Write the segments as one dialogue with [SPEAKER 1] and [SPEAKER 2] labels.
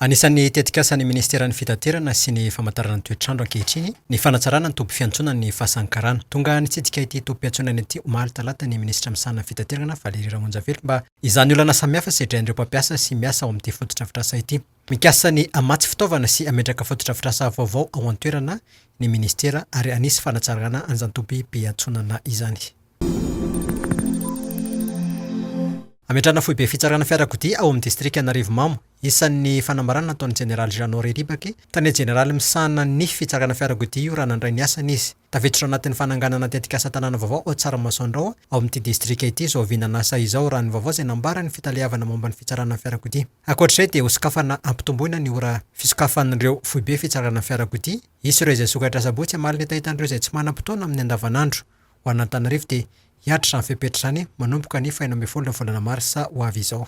[SPEAKER 1] Anisan'ny tetikasan'ny Ministeran'ny Fitaterana sy ny Famantarana ny Toetr'andro ankehitriny ny fanatsarana ny toby fiantsonan'ny Fasan'ny Karana. Tonga nitsidika ity toby fiantsonana ity omaly talata ny Minisitra misahana ny Fitaterana, Valérie Ramonjavelo mba izany olana samihafa sedrain'ireo mpampiasa sy miasa ao amin'ity fotodrafitrasa ity. Mikasa ny hamatsy fitaovana sy hametraka fotodrafitrasa vaovao ao an-toerana ny Ministera ary hanisy fanatsarana an'izany toby piantsonana izany. Hametrahana foibe fitsarana fiarakodia ao amin'ny distrika Anarivomamo. Isan'ny fanambarana nataon'ny Jeneraly Jeannot Riribaky, tale jeneraly misahana ny fitsarana fiarakodia io raha nandray ny asany izy. Tafiditra ao anatin'ny fananganana tetikasa tanàna vaovao ao Tsaramaso Andrao ao amin'ity distrika ity izao vinan'asa izao raha ny vaovao izay nambaran'ny fitaleavana momba ny fitsarana fiarakodia. Ankoatr'izay dia hosokafana hampitomboina ny ora fisokafan'ireo foibe fitsarana fiarakodia hisy ireo izay sokatra Asabotsy hamaly ny hetahetan'ireo izay tsy manam-potoana amin'ny andavanandro. ho an'Antananarivo dia hiatrra izany fepetra izany manomboka ny fahenina ambin'ny folo ny volana marsa ho avy izao.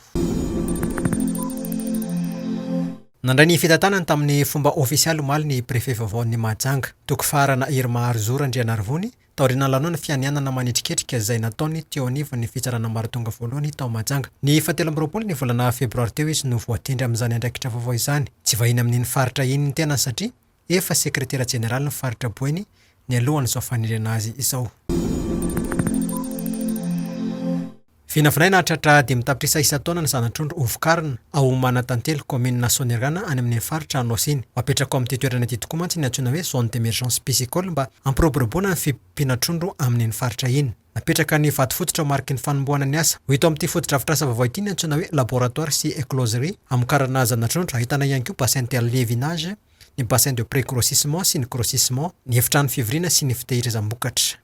[SPEAKER 1] Nandray ny fitantanany tamin'ny fomba ofisialy omaly ny Prefe vaovaon'ny Mahajanga, Toko Faharana Irma Arzo Randrianarivony, taorian'ny lanonana fianianana manetriketrika izay nataony teo anivon'ny Fitsarana Ambaratonga Voalohany tao Mahajanga. Ny fahatelo amby roapolo ny volana febroary teo izy no voatendry amin'izany andraikitra vaovao izany. Tsy vahiny amin'iny faritra iny ny tenany satria Efa sekretera jeneralin'ny faritra Boeny nialohan'izao fanerena azy izao. Vinavinaina hahatratra dimy tapitrisa isan-taona ny zana-trondro hovokarina ao Manantantely, kaominina Soanierana any amin'ny faritra Anôsy-ny. Ho apetraka ao amin'ity toerana ity tokoa mantsy ny antsoina hoe zone d'emergence piscicole mba hampiroboroboana ny fiompiana trondro amin'iny faritra iny. Napetraka ny vato fototra ho mariky ny fanombohana ny asa. Ho hita ao amin'ity fotodrafitrasa vaovao ity ny antsoina hoe Laboratoire sy Écloserie hamokarana zana-trondro, ahitana ihany koa bassin de lévinage, ny bassin de pré-grossissement sy ny grossissement, ny efitrano fivoriana sy ny fitehirizam-bokatra.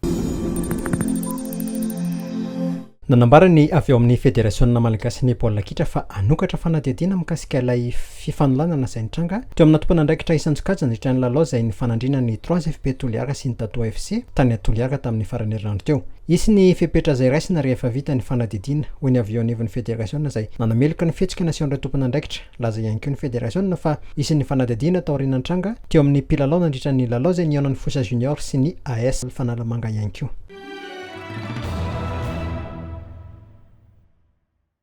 [SPEAKER 1] Nanambara ny avy ao amin'ny Federasionina malagasin'ny baolina kitra fa hanokatra fanadihadiana mikasika ilay. fifanolanana izay nitranga teo amina tompon'andraikitra isan-tsokajiny nandritra ny lalao izay nifanandriana ny Trois FP Toliara sy ny Tato FC tany Toliara tamin'ny faran'ny herinandro teo. Hisy ny fepetra izay raisina rehefa vita ny fanadidiana, hoy ny avy eo anivon'ny federasiona izay nanameloka ny fihetsika nasehon'ireo tompon'andraikitra. Nilaza ihany koa ny federasiona fa hisy ny fanadihadiana taoriana nitranga teo amin'ny mpilalao nandritra ny lalao izay nihaonan'ny Fosa Junior sy ny AS Fanalamanga ihany koa.